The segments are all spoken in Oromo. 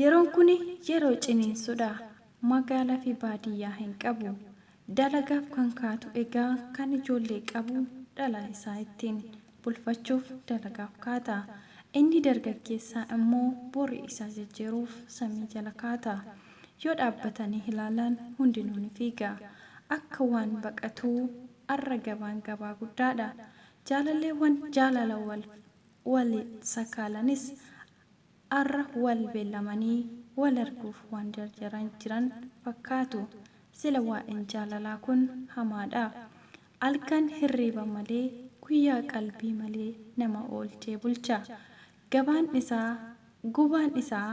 Yeroon kuni yeroo ciniinsudha. Magaalafi baadiyyaa hin qabu. Dalagaaf kan kaatu egaa kan ijoollee qabu dhala isaa ittiin bulfachuuf dalagaaf kaata. Inni dargaggeessaa immoo bori isaa jijjiiruuf samii jala kaata. Yoo dhaabbatanii ilaalan hundinuu ni fiiga. Akka waan baqatuu arra gabaan gabaa guddaadha. Jaalalleewwan jaalala wal waliin sakaalanis Arra wal beellamanii wal arguuf waan jarjaran jiran fakkaatu. Sila waa'een jaalalaa kun hamaadha. Alkan hirriiba malee guyyaa qalbii malee nama oolchee bulcha. Gabaan isaa, gubaan isaa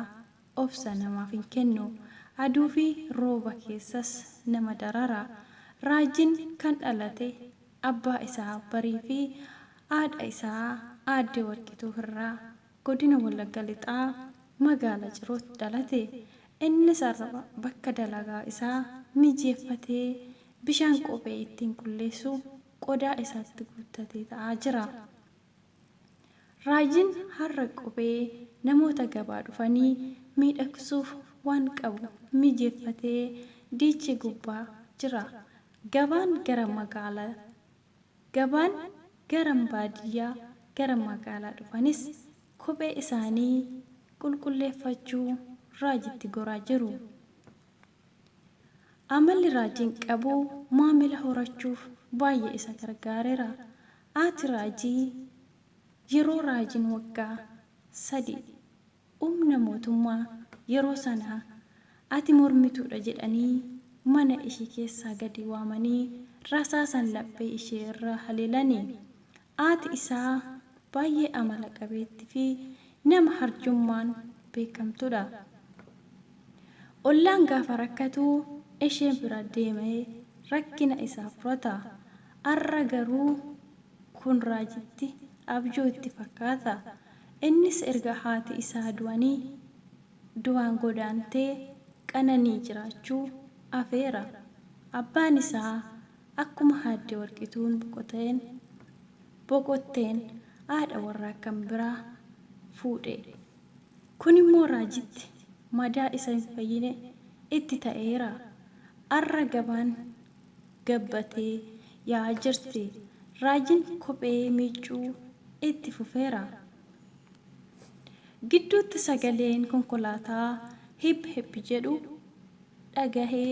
obsa namaaf hin kennu. Aduu fi rooba keessas nama darara. Raajiin kan dhalate abbaa isaa Barii fi haadha isaa Aadde Warqituu irraa. Godina Wallagga Lixaa Magaala Cirootti dhalate. Innis arraba bakka dalagaa isaa mijeeffatee bishaan kophee ittiin qulleessu qodaa isaatti guuttatee ta'aa jira. Raayyiin har'a kophee namoota gabaa dhufanii miidhagsuuf waan qabu mijeeffatee diichee gubbaa jira. Gabaan gara magaala. Gabaan gara baadiyyaa gara magaalaa dhufanis kophee isaanii qulqulleeffachuu Raajitti goraa jiru. Amalli Raajiin qabu maamila horachuuf baay'ee isa gargaarera. Aati Raajii yeroo Raajiin waggaa sadii umna mootummaa yeroo sanaa ati mormituudha jedhanii mana ishii keessaa gadi waamanii rasaasan laphee ishee irra haleelani. Aati isaa baay'ee amala qabeetti fi nama harjummaan beekamtudha. Ollaan gaafa rakkatu ishee bira deemee rakkina isaa furata. Arra garuu Kun raajitti abjuu itti fakkaata. Innis erga haati isaa du'anii du'aan godaantee qananii jiraachuu afeera. Abbaan isaa akkuma Aadde Warqituun boqoteen boqotteen haadha warraa kan biraa fuudhe. Kunimmoo raajitti madaa isa hin fayyine itti ta'eera. Har'a gabaan. gabbatee yaa'aa jirti. Raajiin kophee miiccuu itti fufeera. Gidduutti sagaleen konkolaataa hip hip jedhu dhagahe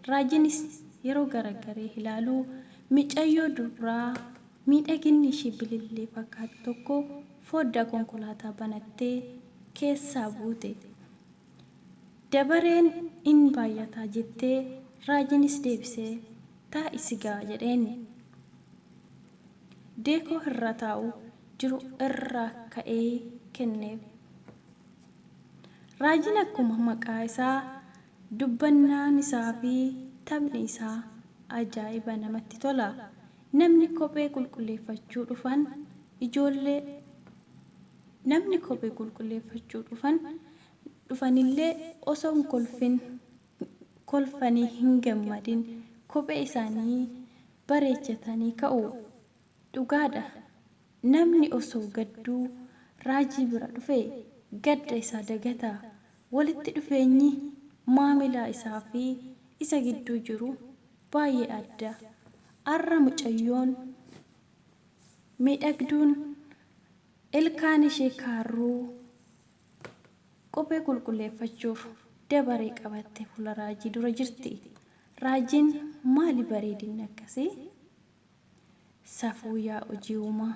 Raajiinis yeroo garagaree ilaalu micayyoo dubraa miidhaginni ishii bilillee fakkaatu tokko fooddaa konkolaataa banattee keessaa buute. Dabareen in baay'ata jettee, raajiinis deebisee, Taa'i si ga'a jedheen. Deekoo irra taa'u jiru irraa ka'ee kenneef. Raajiin akkuma maqaa isaa, dubbannaan isaa fi taphni isaa ajaa'iba namatti tola. Namni kophee qulqulleeffachuu dhufan ijoollee. Namni kophee qulqulleeffachuu dhufan dhufanillee osoo hin kolfin kolfanii hin gammadin kophee isaanii bareechatanii ka'u. Dhugaadha namni osoo gadduu raajii bira dhufe gadda isaa dagata. Walitti dhufeenyi maamilaa isaa fi isa gidduu jiru baay'ee adda. Arra mucayyoon. Miidhagduun ilkaan ishee kaarruu kophee qulqulleeffachuuf dabaree qabattee fuula raajii dura jirti. Raajiin maali bareedinni akkasii? Safuu yaa hojii uumaa!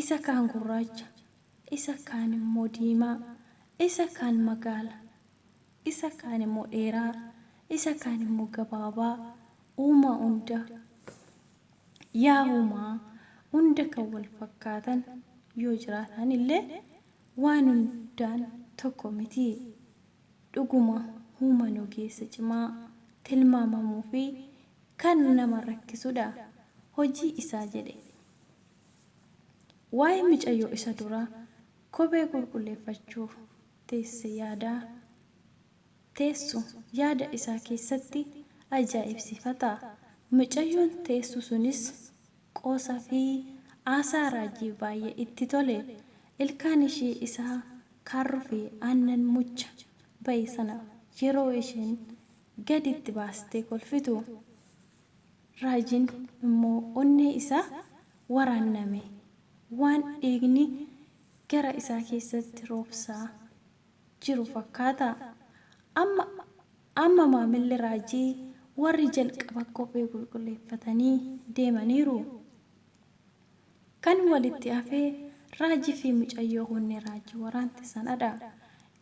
Isa kaan gurraacha, isa kaan immoo diimaa, isa kaan magaala, isa kaan immoo dheeraa, isa kaan immoo gabaabaa, uumaa hunda! Yaa humaa hunda kan wal fakkaatan yoo jiraataan illee waan hundaan tokko miti. Dhuguma human ogeessa cimaa, tilmaamamuu fi kan nama rakkisu dha. Hojii isaa jedhe. Waa'ee micayyoo isa dura kophee qulqulleeffachuuf teesse yaadaa. teessu yaada isaa keessatti ajaa'ibsiifata. Mucayyoon teessu sunis qoosa fi aasaa raajii baay'ee itti tole. Ilkaan ishii isa kaarruu fi aannan mucha ba'e sana yeroo isheen gadi itti baastee kolfitu raajiin immoo onnee isaa waraanname waan dhiigni gara isaa keessatti roobsaa jiru fakkaata. Amma amma maamilli raajii warri jalqaba kophee qulqulleeffatanii deemaniiru. Kan walitti hafe raajii fi mucayyoo hunnee raajii waraante sanadha.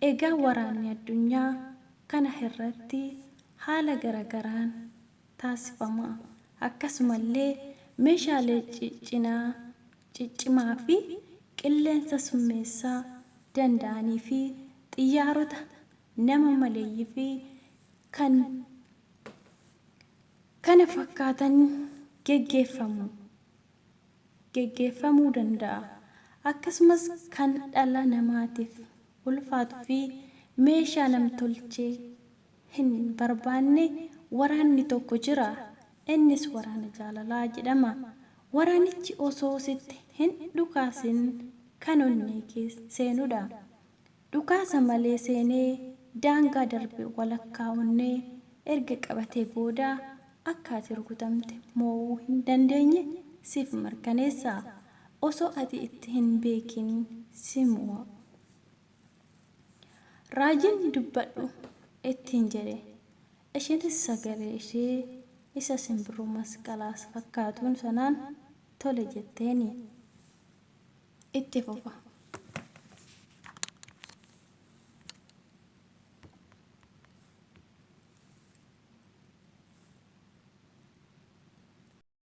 Egaa waraanni addunyaa kana hirratti haala garagaraan. taasifama. Akkasumallee meeshaalee ciccinaa, ciccimaa fi qilleensa summeessaa danda'anii fi xiyyaarota nama maleeyyii fi kan kana fakkaatan geggeeffamu, geggeeffamuu danda'a. Akkasumas kan dhala namaatiif ulfaatu fi meeshaa nam-tolchee. hin barbaanne waraanni tokko jira. Innis waraana jaalalaa jedhama. Waraanichi osoo sitti hin dhukaasin kan onnee kee seenudha. Dhukaasa malee seenee daangaa darbe walakkaa onnee erga qabatee booda akka ati rukutamte moo'uu hin dandeenye siif mirkaneessa. Osoo ati itti hin beekin si moo'a. Raajiin dubbadhu ittiin jedhe. Isheenis sagalee ishee isa simbirroo masqalaas fakkaatuun sanaan tole jetteeni. Itti fufa.